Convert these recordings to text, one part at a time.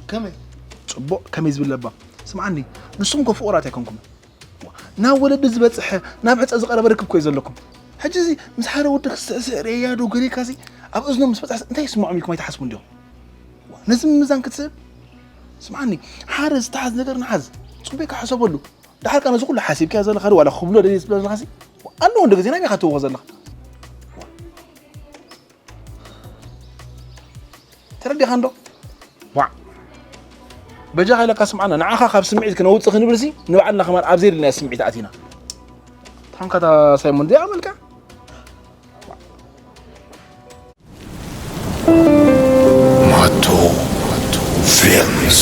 ከመይ ጽቡቕ ከመይ ዝብል ለባም ስምዓኒ ንስኹም ኮ ፍቑራት ኣይኮንኩም ናብ ወለዲ ዝበፅሐ ናብ ሕፀ ዝቐረበ ርክብ ኮዩ ዘለኩም ሕጂ እዚ ምስ ሓደ ወዲ ክስዕስዕ ርእያ ዶ ገሪካ እዚ ኣብ እዝኖም ምስ በፅሐ እንታይ ይስምዖም ኢልኩም ኣይትሓስቡ እንዲኹም ነዚ ምምዛን ክትስእብ ስምዓኒ ሓደ ዝተሓዝ ነገር ንሓዝ ፅቡቅ ኢካ ሕሰበሉ ድሓር ካ ነዚ ኩሉ ሓሲብካ ዘለካ ዶ ዋላ ክብሎ ደልየ ዝብለ ዘለካ ኣለዎ እንደ ግዜ ናይ ሜካ ትወኮ ዘለካ ተረዲኻ እንዶ ዋዕ በጃኻ ኢለካ ስምዓና ንዓኻ ካብ ስምዒት ክነውፅእ ክንብልሲ ንባዕልና ከማን ኣብ ዘየድልናዮ ስምዒት ኣቲና ታንካ እታ ሳይሞን እዚኣ መልክዓ ማቶ ፊልምስ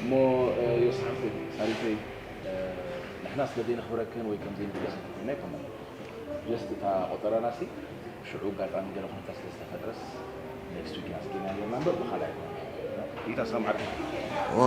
እሞ ዮስ ሓፍተይ ሳሪተይ ንሕና ስለ ዘይነኽብረክን ወይ ከም ዘይንገሰክን ኣይኮነን ጀስት እታ ቆጠራና ሲ ሽዑ ኣጋጣሚ ገለ ኩነታት ስለ ዝተፈጥረስ ኔክስት ዊክ ኢና ስኪና ነርና እምበር ብካልእ ኣይኮነን ይታ ሰምዓካ ዋ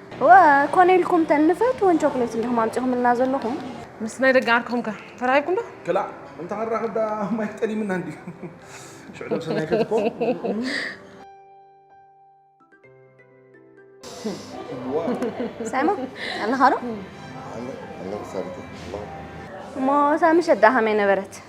እወ ኮነ ኢልኩም ተን ንፈትወን ቾክሌት እንዲኹም ኣምጺኹምልና ዘለኹም። ምስ ናይ ደገ ዓርክኹም ከ ተራኺብኩም ዶ? ክላእ እንተ ክንራኸብ ደኣ ማይክ ጠሊምና እንድዩ። ሽዑ ደብ ሰናይ ከትኮ። ሳይሞ ኣለኻ ዶ? እሞ ሳሚ ሸዳ ከመይ ነበረት?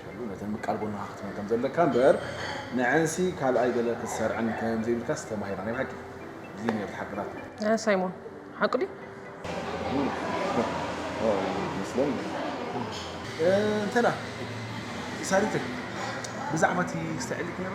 ከሉ ነተን ምቃል ጎንኻ ክትመን ከም ዘለካ እምበር ንዐንሲ ካልኣይ ገለ ክትሰርዐን ከም ዘይብልካስ ተማሂርና ናይ ብሓቂ እዚ ነርት ሓቅታት። እ ሳይሞን ሓቁ ድዩ? እንተ ሳሪተይ ብዛዕባ እቲ ስተዐሊክ ነራ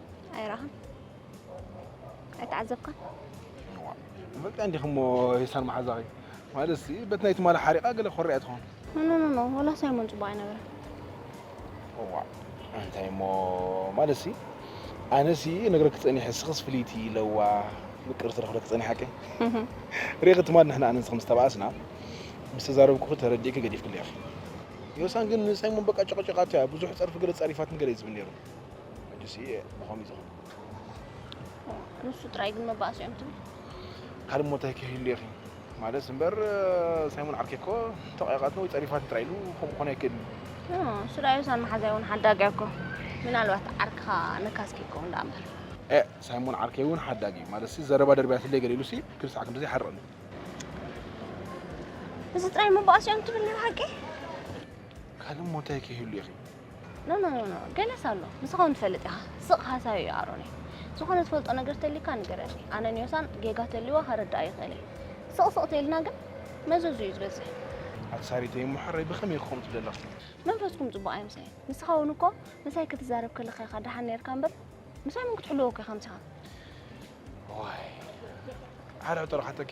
ኣይረኣኻን ኣይተዓዘብካን በቃ እንዲኹ እሞ ሂሳብ መሓዛኺ ማለት ሲ በቲ ናይ ትማሊ ሓሪቓ ገለ ኮሪያ ትኾን ኖኖኖ ወላ ሳይሞን ፅቡቅ ኣይነበረ እዋ እንታይ እሞ ማለት ሲ ኣነ ሲ ነግረኪ ፀኒሐ ስኽስ ፍልይቲ ለዋ ምቅርቲ ረኽብለኪ ፀኒሐ ሓቂ ሪኺ ትማሊ ንሕና ኣነንስ ከም ዝተባኣስና ምስ ተዛረብኩኺ ተረዲእኪ ገዲፍክለይ ኢኺ ዮሳን ግን ንሳይሞን በቃ ጨቕጨቓቶ እያ ብዙሕ ፀርፊ ገለ ፀሪፋትን ገለ እዩ ዝብል ነይሩ ሕጅስ እየ ብኸምይ ዝኸም ንሱ ጥራይ ግን መባእሲ እዮም ትብል ካልእ ሞታይ ከይህሉ ኢኺ ማለት እምበር ሳይሞን ዓርከይ እኮ ተቐያቓትኒ ወይ ፀሪፋትኒ ጥራይ ኢሉ ከምኡ ክኾነ ኣይክእልን ስራዩ ሳን መሓዛይ እውን ሓዳጊ እኮ ምናልባት ዓርክኻ ነካስኪ ይከውን ዳኣ እምበር ሳይሞን ዓርከይ እውን ሓዳጊ እዩ ማለት ዘረባ ደርቢያትለይ ገለ ኢሉሲ ክል ሰዓት ክንደዚ ይሓርቐኒ እዚ ጥራይ መባእሲ እዮም ትብል ናይ ብሓቂ ካልእ ሞታይ ከይህሉ ኢኺ ኖ ኖ ኖ ገለስ ኣሎ ንስኻ እውን ትፈልጥ ኢኻ ስቕ ሃሳዩ እዩ ኣሮነይ ዝኾነ ትፈልጦ ነገር ተልዩካ ንገረኒ ኣነ ንዮሳን ጌጋ ተልዩዋ ከረድኣ ይኽእል እየ ስቕ ስቕ ተይልና ግን መዘዙ እዩ ዝበዝሕ ኣቲ ሳሪተይ እሞ ሕራይ ብኸመይ ክኸውን ትብል ኣለኻ መንፈስኩም ጽቡቕ ኣይምሳይ ንስኻ እውን እኮ ምሳይ ክትዛረብ ከለኻ ኢኻ ደሓን ነርካ እምበር ምሳይ ምን ክትሕልዎ እኮ ኢኻ ምሳኻ ዋይ ሓራ ጥራሓተኪ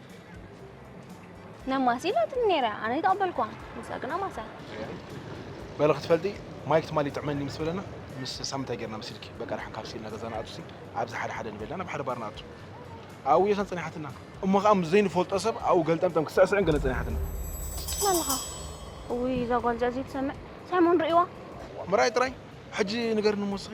ነማሲ ኢላትኒ ነይረ ኣነ ይተቐበልክዋ ንሳ ግን ኣማሳ በለ ክትፈልጢ ማይ ክትማል ይጥዕመኒ ምስ በለና ምስ ሳም እንታይ ጌርና መሲልኪ በቃ ድሓን ካብ ሲልና ገዛ ንኣቱ ሲ ኣብዚ ሓደ ሓደ ንበልና ናብ ሓደ ባር ንኣቱ ኣብኡ የኸን ጸኒሓትና እሞ ከዓ ምስ ዘይንፈልጦ ሰብ ኣብኡ ገልጠምጠም ክስዕስዕን ገለ ጸኒሓትና ኣለኻ ውይ እዛ ጓል እዚኣ ዘይትሰምዕ ሳይሞን ርእዋ ምርኣይ ጥራይ ሕጂ ንገርኒ እሞ እስኺ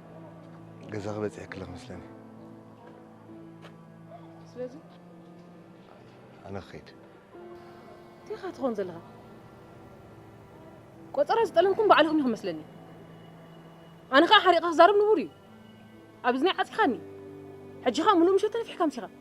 ገዛኺ በፂሐ ክለኽ መስለኒ ስለዚ ኣነ ክኸይድ እንቲኻ ትኾን ዘለኻ ቆፀራ ዝጠለምኩም ባዕልኹም ኢኹም መስለኒ ኣነ ከዓ ሓሪቕኻ ክዛረብ ንቡር እዩ ኣብ እዝነይ ዓፂኻኒ ሕጂ ከዓ ሙሉእ ምሸት ተነፊሕካ ምሲኻ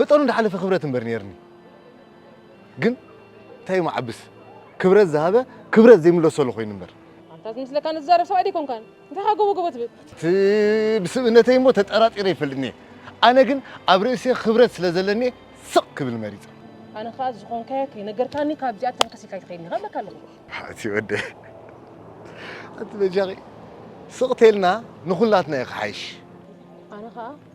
መጠኑ ዝሓለፈ ክብረት እምበር ነይርኒ ግን እንታይ እዩ መዓብስ ክብረት ዝሃበ ክብረት ዘይምለሰሉ ኮይኑ እምበር ኣንታ ዝመስለካ ንዛረብ ሰብኣይ ደይኮንካን እንታይ ከ ጎቦ ጎቦ ትብል እቲ ብስብእነተይ እሞ ተጠራጢረ ይፈልጥኒ እየ ኣነ ግን ኣብ ርእሲ ክብረት ስለ ዘለኒ ስቕ ክብል መሪፀ። ኣነ ከኣ ዝኾንካዮ ከይነገርካኒ ካብዚኣ ተንከስ ኢልካ ኣይትኸይድን ኢኻ እብለካ ኣለኹ። ኣቲ ወደ ኣቲ በጃኺ ስቕ ተልና ንኹላትና እዩ ክሓይሽ። ኣነ ከኣ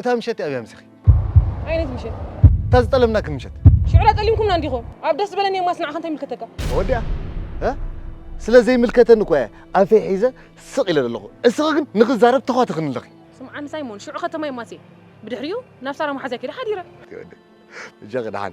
እታ ምሸት ኣብያ ምሳኺ። ዓይነት ምሸት? እታ ዝጠለምናኪ ምሸት። ሽዑ ጠሊምኩምና እንዲኹም። ኣብ ደስ ዝበለኒ የማስ ንዓኻ እንታይ ይምልከተካ? ተወዲኣ ስለ ዘይምልከተኒ እኮ እየ ኣንፈይ ሒዘ ስቕ ኢለ ዘለኹ። እስኺ ግን ንኽዛረብ ተዃትኽኒ ኣለኺ። ስምዓኒ ሳይሞን፣ ሽዑ ከተማ የማስ እየ። ብድሕሪኡ ናብ ሳራ መሓዝያ ከይደ ሓዲረ። በጃኺ ደሓን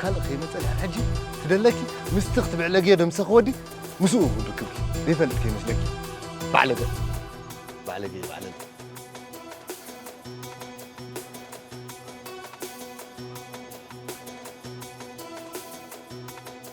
ካልእ ከይመጸልያ ሕጂ ትደለኪ ምስቲ ክትብዕለግዮ ደምሰኺ ወዲ ምስኡ ክንርክብኪ ዘይፈልጥ ከይመስለኪ ባዕለገ ባዕለገ ባዕለገ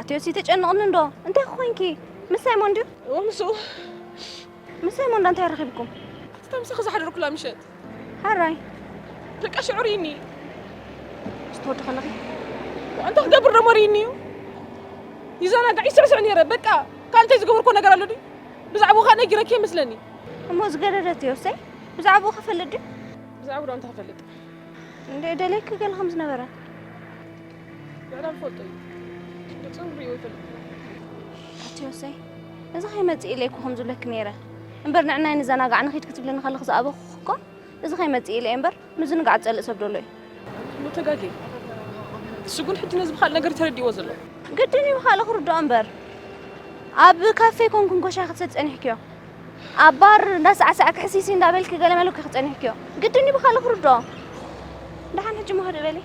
ኣትዮ ተጨንቕኒ እንዶ እንታይ ኮይንኪ ምስ ሳይሞን ድዩ እዎ ምስኡ ምስ ሳይሞን እንዳ እንታይ ረኺብኩም እታ ምሳኺ ዝሓደርኩላ ምሸት ሓራይ በቃ ሽዑ ርኢኒ ስትወዲ ከለኺ ኣንታ ክገብር ደሞ ርኢኒ እዩ ይዘናጋዕ ይስዕስዕ ነይረ በቃ ካብ እንታይ ዝገበርኮ ነገር ኣሎ ድዩ ብዛዕባኡ ከዓ ነጊረኪ ይመስለኒ እሞ ዝገደደት እዮ ሰይ ብዛዕባኡ ክፈልጥ ድዩ ብዛዕባ ዶ እንታይ ክፈልጥ እንደ ደለይኪ ገለ ከም ዝነበረ ምዕራብ ፈልጦ እዩ ንፅም ሪዮ ይፈልጥና ኣትዮሰይ እዚ ከይመፅእ ኢለይኩ ከም ዝብለኪ ነይረ እምበር ንዕናይ ንዘናጋዕ ንኺድ ክትብለኒ ከለኺ ዝኣበኹ እኮ እዚ ከይመፅእ ኢለ እምበር ምዝንጋዕ ፀልእ ሰብ ደሎ እዩ መተጋጌ ስጉን ሕጂ ነዚ ብካልእ ነገር ተረዲእዎ ዘሎ ግድን እዩ ብካልእ ክርድኦ እምበር ኣብ ካፌ ኮንኩ እንኮሻ ክትሰድ ፀኒሕክዮ ኣብ ባር እንዳሳዕሳዕ ክሕሲሲ እንዳበልኪ ገለመለኪ ክፀኒሕክዮ ግድን እዩ ብካልእ ክርድኦ ደሓን ሕጂ መኸደ በለይ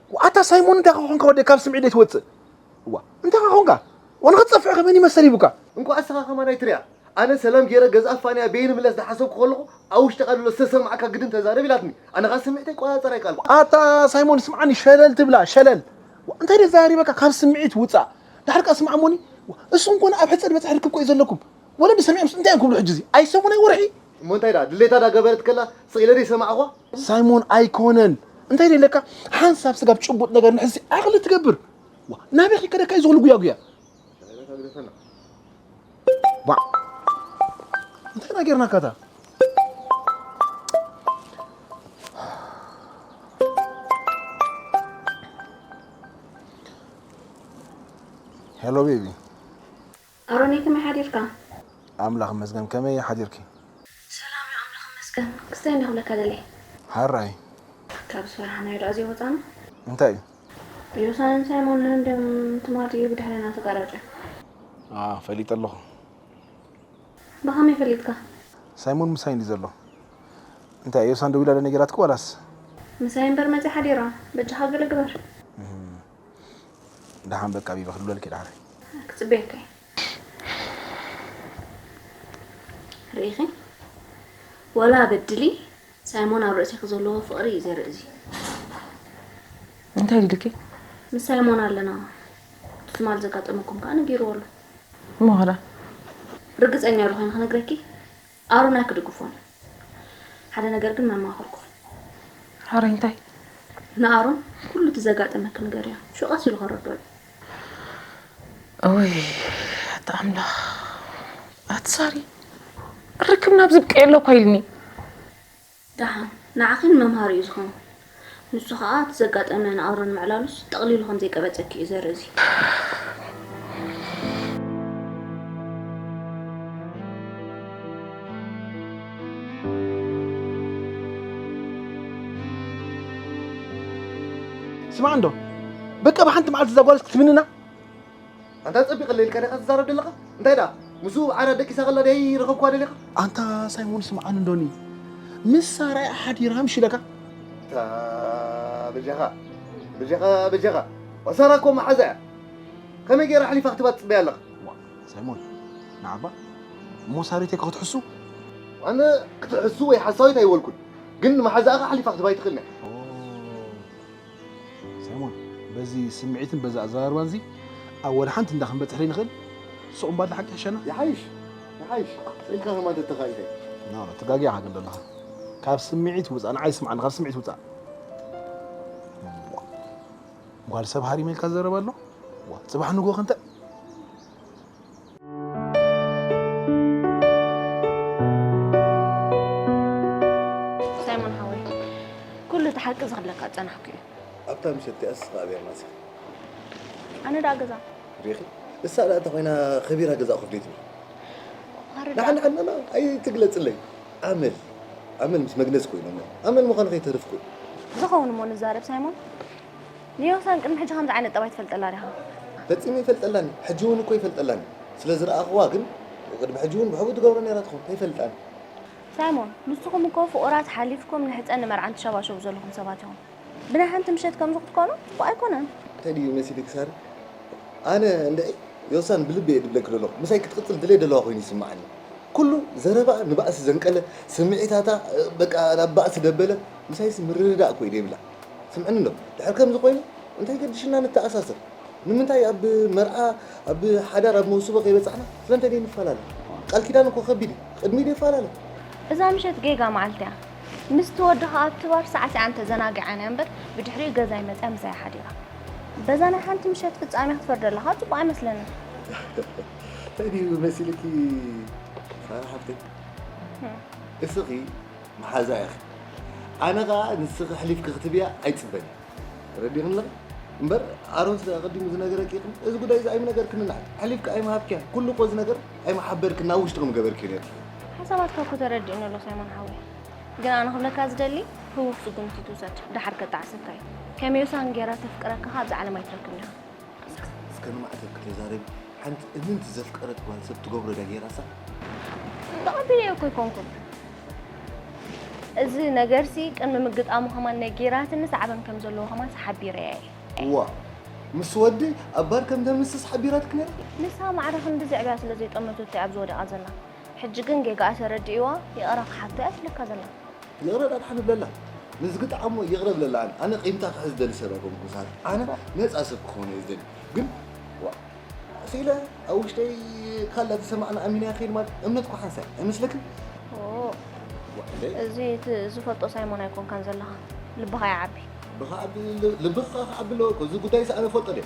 ኣታ ሳይሞን እንታይ ከኾንካ ወደ ካብ ስምዒት ዘይትወፅእ እዋ እንታይ ከኾንካ ዋላ ክትፀፍዕ ከመን ይመሰል ይቡካ እንኳዕ እስኻ ከማናይ ትሪኣ ኣነ ሰላም ገይረ ገዛኣ ፋንያ ቤይ ንምለስ ዳሓሰብኩ ከለኹ ኣብ ውሽጥኻ ድሎ ዝተሰማዓካ ግድን ተዛረብ ኢላትኒ ኣነ ካኣ ስምዒተይ ቆፃፀር ኣይካኣልኩን። ኣታ ሳይሞን ስምዓኒ ሸለል ትብላ ሸለል እንታይ ደዛሪበካ ካብ ስምዒት ውፃእ ዳሓር ካኣ ስማዕ እሞኒ እስኹም ኮነ ኣብ ሕፀ ድበፅሒ ርክብ ኮዩ ዘለኩም ወለዲ ሰሚዖምስ እንታይ እዮም ክብሉ ሕጂ እዚ ኣይሰሙን ኣይ ወርሒ እሞ እንታይ ደኣ ድሌታ ዳ ገበረት ከላ ስቅ ኢለ ደይ ሰማዕኳ። ሳይሞን ኣይኮነን እንታይ ደለካ ሓንሳብ ስጋብ ጭቡጥ ነገር ንሕዚ ዓቕሊ ትገብር ዋ ናበይ ከይከደካ እዩ ዝኽሉ ጉያጉያ ዋ እንታይ ና ጌርናካ እታ ሄሎ ቤቢ ኣሮነይ ከመይ ሓዲርካ። ኣምላኽ ይመስገን ከመይ ሓዲርኪ። ሰላም እዩ ኣምላኽ ይመስገን ክስታይ እንድየ ክብለካ ደልየ። ሐራይ። ካብ ዝፈራሕናዮ ድኣ ዘይወጻና። እንታይ እዩ። ዮሳን ሳይሞን ን ድም ትማት እዩ ብድሕሬና ተጋራጭ። ኣህ ፈሊጠ ኣለኹ። ብኸመይ ፈሊጥካ። ሳይሞን ምሳይ እንድዩ ዘሎ። እንታይ ዮሳን ደዊላ ዶ ነጊራትኪ ዋላስ። ምሳይ እምበር መጺኣ ሓዲራ በጃኻ ገለ ግበር። ደሓን በቃ ቢቢ ክልበልኪ ደሓን ክፅበየካ እየ ርኢኺ ወላ በድሊ ሳይሞን ኣብ ርእሲኺ ዘለዎ ፍቕሪ እዩ ዘርኢ እዚ እንታይ ኢልኪ ምስ ሳይሞን ኣለና ትማል ዘጋጠመኩም ከዓ ነጊርዎ ኣሎ እሞ ኸዳ ርግፀኛ ዶ ኮይኑ ክነግረኪ ኣሮን ኣይክድግፎን እዩ ሓደ ነገር ግን መማክርኩም። ኣሮይ እንታይ? ንኣሮን ኩሉ እቲ ዘጋጠመኪ ንገርዮ ሹዑ ቀስ ኢሉ ከረድኦ እዩ። እውይ ኣታ ኣምላኽ ኣቲ ሳሪ ርክብና ኣብዝብቀየሉ እኳ ኢልኒ። ደሓን ንዓኺን መምሃሪ እዩ ዝኸውን። ንሱ ከኣ እቲ ዘጋጠመ ንኣውሮ ንምዕላሉስ ጠቕሊሉ ከም ዘይቀበጸኪ እዩ ዘርኢ እዚ። ስማዕ እንዶ በቃ ብሓንቲ መዓልቲ እዛ ጓል ክትምንና። ኣንታ ጸቢቐለይ ኢልካ ዲኻ ትዛረብ ደለኻ? እንታይ ደኣ ምስኡ ብዓዳ ደቂሳ ከላ ደይ ረኸብክዋ ደሊኻ? ኣንታ ሳይሞን ስምዓኒ እንዶኒ ምስ ሳራ'ያ ሓዲራ ኣምሽለካ። ኣታ በጃኻ በጃኻ በጃኻ ዋ ሳራ እኮ መሓዛ እያ ከመይ ጌራ ኣሕሊፋ ክትባ ትጽበያ ኣለኻ። እዋእ ሳይሞን ንዓ'ባ እሞ ሳሪተይ ከ ክትሕሱ? ኣነ ክትሕሱ ወይ ሓሳዊት ኣይበልኩን ግን ንመሓዛኣ ከ ኣሕሊፋ ክትባ ኣይትኽእልን እያ። ኦህ። ሳይሞን በዚ ስምዒትን በዚ ኣዘራርባን እዚ ኣብ ወላ ሓንቲ እንዳ ክንበጽሕ ዘይንኽእል ሱቕ እምባር ንሓቂ ይሕሸና ይሓይሽ ይሓይሽ ስኢልካ ከማ እንተተኻኢለ ኖ ኖ ተጋጊኻ ግን ዘለኻ ካብ ስምዒት ውፃእ ንዓይ ስምዓኒ ካብ ስምዒት ውፃእ ጓል ሰብ ሃሪመ ኢልካ ዝዘረብ ኣሎ ዋ ፅባሕ ንግሆ ክንተ ሳይሞን ሓወይ ኩሉ እቲ ሓቂ ዝኽለካ ዝጸናሕኩ እዩ ኣብታ ምሸት እቲኣስ ኸኣ ቤርና ስኺ ኣነ ደኣ ገዛ ሪኺ እሳ ደኣ እንተኾይና ከቢራ ገዛ ኮፍ ደይ ትብል ዋረ ደኣ ንዓን ዓናና ኣይትግለጽለይ ኣመል ኣመል ምስ መግነዝ ኮይኖም እዮም ኣመል ምዃኑ ከይተርፍኩ ዝኸውን እሞ ንዛረብ ሳይሞን ንዮውታን ቅድሚ ሕጂ ከምዚ ዓይነት ጠባይ ትፈልጠላ ዲኻ? ፈጺመ ኣይፈልጠላን ኢየ ሕጂ ውን እኮ ኣይፈልጠላን ኢየ ስለ ዝረኣኽዋ ግን ቅድሚ ሕጂ ውን ብሕቡእ ትገብሮ ኔራ ትኸውን ኣይፈልጣን። ሳይሞን ንስኹም እኮ ፍቑራት ሓሊፍኩም ንሕጸን ንመርዓን ትሸባሸቡ ዘለኹም ሰባት ኢኹም ብናይ ሓንቲ ምሸት ከምዚ ክትኮኑ ጽቡቕ ኣይኮነን። እንታይ ድዩ መሲልኪ ሳሪ ኣነ እንድዒ ዮውሳን ብልቢ ኢየ ድብለኪ ደለኹ ምሳይ ክትቅጽል ድሌት ደለዋ ኮይኑ ይስምዓኒ ኩሉ ዘረባኣ ንባእሲ ዘንቀለ ስምዒታታ በቃ ናብ ባእሲ ደበለ ምሳይሲ ምርድዳእ እኮ ኢዩ ደይብላ። ስምዕኒ ዶ ድሕር ከምዚ ኮይኑ እንታይ ገድሽና ንተኣሳሰር ንምንታይ ኣብ መርዓ ኣብ ሓዳር ኣብ መውስቦ ከይበጻሕና ስለምንታይ ዘይንፈላለ ቃል ኪዳን እኮ ከቢድ እዩ ቅድሚ ዘይፈላለ እዛ ምሸት ጌጋ መዓልቲ እያ ምስ ትወዲ ከዓ ኣብቲ ባር ሳዕሲዓን ተዘናጊዓን እያ እምበር ብድሕሪኡ ገዛይ መፅያ ምሳይ ሓዲራ በዛ ናይ ሓንቲ ምሸት ፍጻሜ ክትፈርደለኻ ፅቡቅ ኣይመስለንን እንታይ ድዩ መሲልኪ ሳራ ሓፍተይ እስኺ መሓዛ ኢኺ ኣነ ከኣ ንስኺ ሕሊፍኪ ክትብያ ኣይጽበን እየ ተረዲኽኒ ኣለኺ እምበር ኣሮን ስለ ኣቐዲሙ ዝነገረኪ ይኹን እዚ ጉዳይ እዚ ኣይምነገርክን ንዓይ ሕሊፍኪ ኣይምሃብክያን ኩሉ እኮ እዚ ነገር ኣይምሓበርክን ናብ ውሽጢ ከምገበርክዮ ነርኪ ሓሳባትካ እኮ ተረዲእኒ ኣሎ ሳይሞን ሓወይ ግን ኣነ ክብለካ ዝደሊ ህውኽ ስጉምቲ ትውሰድ ድሓር ከጣዕሰካ እዩ ከመዮሳን ጌራ ተፍቅረካ ከ ኣብዚ ዓለም ኣይትረክብን ኢኻ እስከ ንማዕተብ ከተዛረቢ ሓንቲ እምንቲ ዘፍቀረት ጓል ሰብ ትገብሮ ዳ ጌራሳ ብቐቢለ እኮ ኣይኮንኩን እዚ ነገርሲ ቅድሚ ምግጣሙ ከማን ናይ ጌራትኒ ሳዕበን ከም ዘለዎ ከማን ሓቢረ እየ እዋ ምስ ወዲ ኣብ ባር ከም ተምስስ ሓቢራትክ ነይራ ንሳ ማዕረ ክንዲ ዝዕብያ ስለ ዘይጠመተቶ እያ ኣብዚ ወደቓ ዘላ ሕጂ ግን ጌጋኣ ተረዲእዋ ይቕረ ክሓቶ እያ ትብለካ ዘላ። ይቕረ ዳርሓ ንብለላ ንዝግጣዓ እሞ ይቕረ ብለላ ኣነ ኣነ ቂምታ ክሕዝ ዝደሊ ሰብ ኣይኮንኩን ሳራ ኣነ ነጻ ሰብ ክኾን እየ ዝደሊ ግን ዋእ ስኢለ ኣብ ውሽጠይ ካላ ተሰማዕና ኣሚነያ ክይድ ማለት እምነት እኮ ሓንሳእ እዩ ኣይመስለክን እዚ እቲ ዝፈልጦ ሳይሞን ኣይኮንካን ዘለኻ ልብኻ ይዓቢ ብኻ ዓቢ ልብኻ ክዓቢ ኣለዎ እኮ እዚ ጉዳይ ሰኣነ ፈልጦ ድየ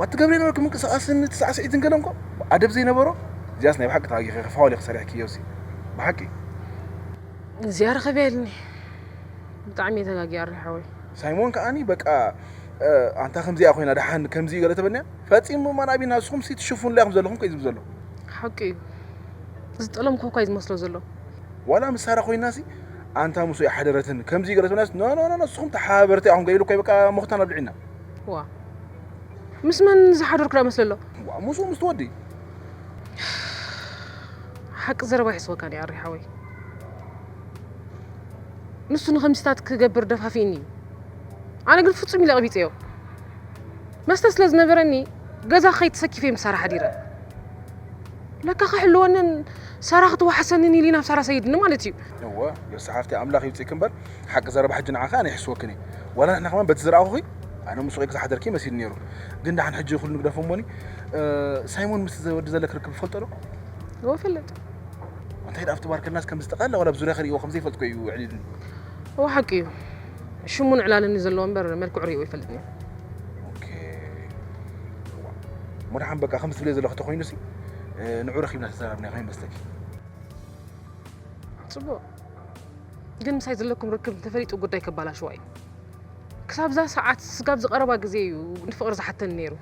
ዋት ትገብሪ ነበርኪ ምንቅስቃስን እቲ ሳዕስዒትን ገለ እንኮ ኣደብ ዘይነበሮ እዚኣስ ናይ ብሓቂ ተጋጊኺ ክፋዋል ኢኺ ሰሪሕክዮሲ ብሓቂ እዚኣ ርኽብየልኒ ብጣዕሚ ተጋጊ ኣሪ ሓወይ ሳይሞን ከዓኒ በቃ ኣንታ ከምዚኣ ኮይና ደሓን ከምዚ ገለ ተበልኒያ ፈፂሙ ማን ኣብና ንስኹም ሲ ትሽፉንለያ ከም ዘለኹም ከ ዝብ ዘሎ ሓቂ እዩ ዝጠሎም ኮኳይ ዝመስሎ ዘሎ ዋላ ምሳራ ኮይናሲ ኣንታ ምስ ወይ ሓደረትን ከምዚ ገለ ተበልኒያስ ኖኖኖ ንስኹም ተሓባበርቲ ኣኹም ገይሉ እኮ በቃ ሞኽታን ኣብልዒና ዋ ምስ መን ዝሓደርኩ ዳ መስለ ኣሎ ዋ ምስኡ ምስ ትወዲ ሓቂ ዘረባ ይሕስወካ ዲኣ ኣሪ ሓወይ ንሱ ንከምስታት ክገብር ደፋፊእኒ እዩ ኣነ ግን ፍጹም ኢለ ቀቢጸዮ መስተ ስለ ዝነበረኒ ገዛ ከይተሰኪፈ ምስ ሳራ ሓዲረ ለካ ክሕልወንን ሳራ ክትዋሓሰንን ኢሊ ናብ ሳራ ሰይድኒ ማለት እዩ እወ የሳሓፍቲ ኣምላኽ ይውጽእክ እምበር ሓቂ ዘረባ ሕጂ ንዓኺ ኣነ ይሕስወክን እየ ዋላ ንሕና ከማን በቲ ዝረኣኹኺ ኣነ ምስ ሱቂልኪ ዝሓደርኪ መሲሉ ነይሩ ግን ደሓን ሕጂ ኩሉ ንግደፎ እሞኒ ሳይሞን ምስ ወዲ ዘለክ ርክብ ይፈልጦ ዶ እዎ ፈልጥ እንታይ ደኣ ኣብቲ ባርከናስ ከም ዝተቃላ ዋላ ብዙርያ ክርእዎ ከም ዘይፈልጥ ኮዩ ዕሊልኒ እዎ ሓቂ እዩ ሽሙን ዕላልን ዘለዎ እምበር መልክዑ ሪእዎ ይፈልጥኒ ኦኬ እሞ ደሓን በቃ ከም ዝትብልዮ ዘለኹ ተኮይኑሲ ንዑ ረኺብና ተዘራርብና ኮይኑ መስለኪ ጽቡቅ ግን ምሳይ ዘለኩም ርክብ እንተፈሊጡ ጉዳይ ከበላሽዋ እዩ ክሳብዛ ሰዓት ስጋብ ዝቀረባ ግዜ እዩ ንፍቅሪ ዝሓተኒ ነይሩ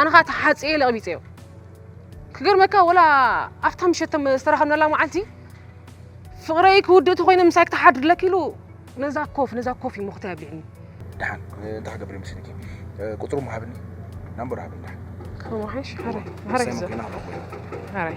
ኣነ ከዓ ተሓፅየ ለቕቢፀዮ ክገርመካ ወላ ኣብታ ምሸት ዝተረኸብናላ መዓልቲ ፍቅረይ ክውድእ ተኮይነ ምሳይ ክተሓድርለክ ኢሉ ነዛ ኮፍ ነዛ ኮፍ እዩ ሞክተ ያብልዕኒ ድሓን እንታይ ክገብር ይመስለኪ ቁፅሩ ምሃብኒ ናምበሩ ሃብኒ ድሓን ከመሓሽ ሃራይ ሃራይ ሃራይ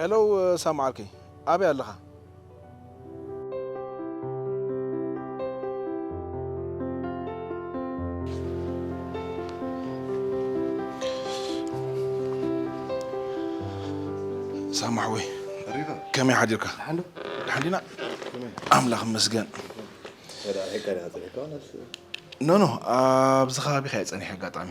ሄሎ ሳምዓርከይ ኣበይ ኣለኻ? ሳማሕወይ ከመይ ሓዲርካ ሓዲና ኣምላኽ መስገን ኖኖ ኣብዚ ከባቢካ እየ ፀኒሐ ኣጋጣሚ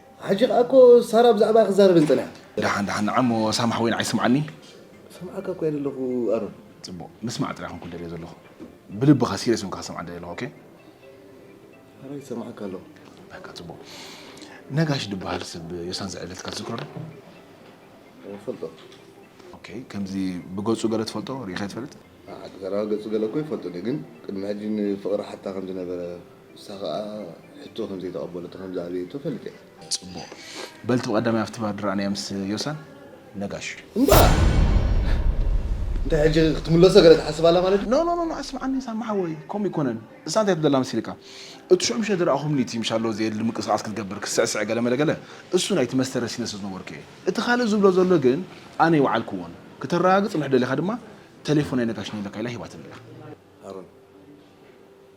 ሕጂ ከኣ እኮ ሳራ ብዛዕባይ ክትዛረበኒ ጸኒሓ። ደሓን ደሓን ንዓ እሞ ሳማሕ ወይን ኣይስምዓኒ። ክሰምዓካ እኮ እየ ዘለኹ ኣሮን። ጽቡቕ ምስማዕ ጥራይ ኮንኩ ደልዮ ዘለኹ ብልብኻ ሲርየስ ኮንካ ክሰምዓ ደልየ ኣለኹ ኦኬ። ኣረ ይሰምዓካ ኣለኹ። በቃ ጽቡቕ ነጋሽ ድበሃል ሰብ ዮሳን ዝዕብለትካ ትዝክሮ ዶ? እፈልጦ። ኦኬ ከምዚ ብገጹ ገለ ትፈልጦ ርኢኻዮ ትፈልጥ? ንዓ ተጋዳላይ ገጹ ገለ እኮ ይፈልጥን እዩ ግን ቅድሚ ሕጂ ንፍቅሪ ሓታ ከም ዝነበረ ንሳ ከኣ ሕቶ ከም ዘይተቀበለቶ ከም ዝኣበየቶ እፈልጥ እየ። ጽቡቅ በልቲ ብቀዳማይ ኣብቲ ባር ድራኣናያ ምስ ዮሳን ነጋሽ። እባ እንታይ ሕጂ ክትምለሶ ገለ ትሓስብ ኣላ ማለት ድዩ። ኖ ኖ ኖ ኣስምዓኒ ሳሚ ሓወይ ከምኡ ኣይኮነን ንሳ እንታይ ትብለላ መሲልካ እቲ ሽዑ ምሸት ዝራኣኹምኒ እቲ ምሻሎ ዘየድሊ ምንቅስቃስ ክትገብር ክትስዕስዕ ገለ መለ ገለ እሱ ናይቲ መስተ ረሲነ ስለ ዝነበርኩ እየ እቲ ካልእ ዝብሎ ዘሎ ግን ኣነ ኣይወዓልክዎን ክተራጋግጽ ምሕ ደሊኻ ድማ ተሌፎነይ ነጋሽ ንኢለካ ኢላ ሂባትኒ ኣላ። ሃሩን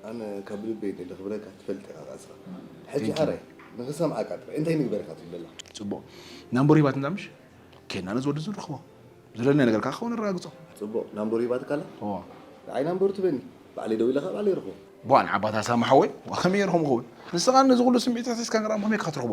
ኣነ ካብ ልበይ እንተ ዘኽብረካ ትፈልጥ ኢኻ ኻኣ እስኻ ሕጂ ሓራይ ንኽሰምዓካ ጥራይ እንታይ ንግበር ኢኻ ትብል ዘላ። ጽቡቕ ናምበሩ ሂባትኒ ኣላ ምሽ ኬድና ነዚ ወዲ እዚ ንረኽቦ ዝደለናዮ ነገር ካኣ ክኸውን ነረጋግጾ። ጽቡቕ ናምበሩ ሂባትካ ኣላ እወ። ንዓይ ናምበሩ ትበኒ ባዕለይ ደዊለ ካኣ ባዕለይ ይረኽቦ። ቧእ ንዓባት ኣስላም ሓወይ ዋእ ከመይ ጌረ ከምኡ ክኸውን ንስኻ ነዚ ኩሉ ስምዒት ኣሕሲስካ ንራም ከመይ ኢካ ክትረኽቦ።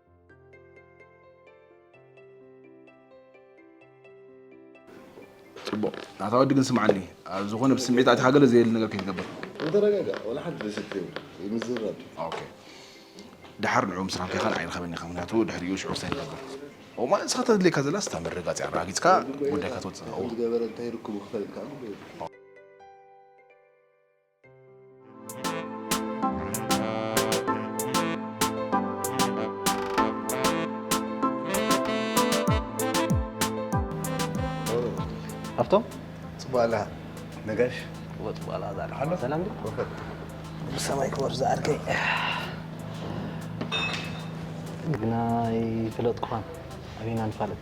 ፅቡቕ ናታ ወዲ ግን ስምዓኒ ኣብ ዝኾነ ብስምዒት ኣቲኻ ገለ ዘየል ነገር ከይትገብር ተረጋጋ ዋላ ሓንቲ ደስት ይምዝረብ ድሓር ንዑ ምስ ራንካ ይኻል ዓይንኸበኒ ኢኻ ምክንያቱ ድሕሪኡ ሽዑ ክሳይ ትገብር እማ ንስኻ ተድልየካ ዘላ ስታ መረጋፂ ኣረጋጊፅካ ጉዳይካ ትወፅእ ዝገበረ እንታይ ርክቡ ክፈልጥካ ሃብቶም ፅቡቅ ኣላ ነጋሽ ወፅቡ ኣላ ዛሬ ኣሎ ሰላም ድዩ ወፈር ብሰማይ ክበር ዝኣርከይ ግና ይፍለጥኩኻን ኣበይና ንፋለጥ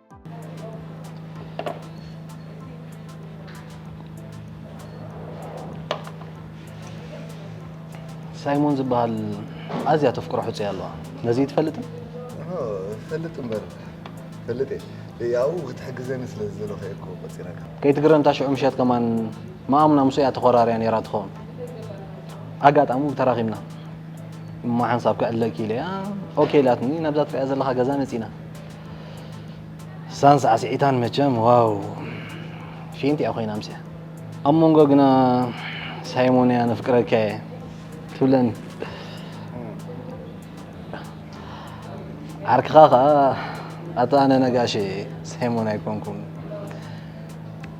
ሳይሞን ዝበሃል ኣዝያ ተፍቅሮ ሕፁይ ኣለዋ ነዚ ትፈልጥ ፈልጥ እምበር ፈልጥ እየ ያው ክትሕግዘኒ ስለ ዝደለኹ እየ እኮ ቆፂረካ ከይትግረምታ ሽዑ ምሸት ከማን መኣሙና ምስ እያ ተኾራርያ ነይራ ትኸውን ኣጋጣሚ ተራኺብና እሞ ሓንሳብ ክዕለኪ ኢለያ ኦኬ ኢላትኒ ናብዛ ትሪያ ዘለኻ ገዛ መፂና ሳን ሳዕስዒታን መቸም ዋው ፊንቲ እያ ኮይና ምስያ ኣብ መንጎ ግና ሳይሞን እያ ነፍቅረካ እየ ትብለኒ ዓርክኻ ከዓ ኣታ ኣነ ነጋሽ ሳይሞን ኣይኮንኩን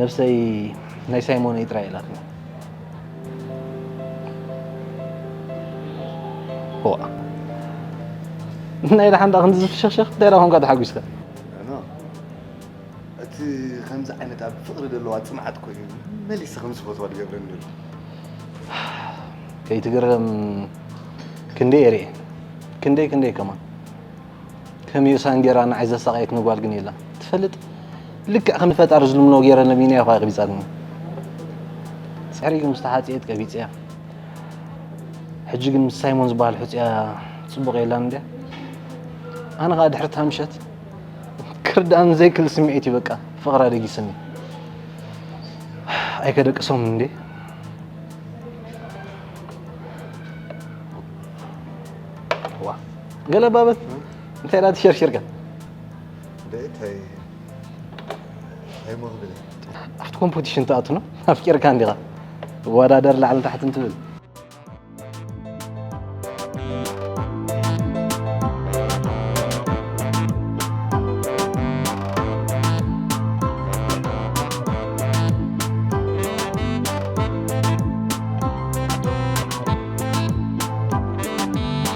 ነብሰይ ናይ ሳይሞነይ ጥራይ ኢላትኒ ዋ ናይ ደሓንዳ ክንዲ ዝፍሸኽሸኽ እንታይ ዳ ኮንካ ተሓጒስካ እቲ ከምዚ ዓይነት ኣብ ፍቕሪ ዘለዋ ፅምዓት ኮይኑ መሊሰ ከም ዝፈትዋ ዝገብረኒ ዘሎ ከይትግረም ክንደይ እየ ርኤ ክንደይ ክንደይ ከማን ከመይ ዩሳን ጌራ ንዓይ ዘሳቀየትኒ ጓል ግን የላ ትፈልጥ ልክዕ ከም ፈጣሪ ዝልምኖ ጌረ ለሚና ይኳ ይቅቢጻትኒ ጽሕሪኡ ምስ ተሓጽየት ቀቢጽያ ሕጂ ግን ምስ ሳይሞን ዝበሃል ሕጽያ ጽቡቅ የላን እንድያ ኣነ ከዓ ድሕሪ እታ ምሸት ክርዳእን ዘይክል ስምዒት እዩ በቃ ፍቅራ ደጊስኒ ኣይከደቅሶም እንዴ ገለ ባበት እንታይ ዳ ትሸርሽርካ ደታይ ኣይሞን ብለ ኣብቲ ኮምፖቲሽን ትኣቱ ነው ኣፍቂርካ እንዲኻ ወዳደር ላዕሊ ታሕቲ እንትብል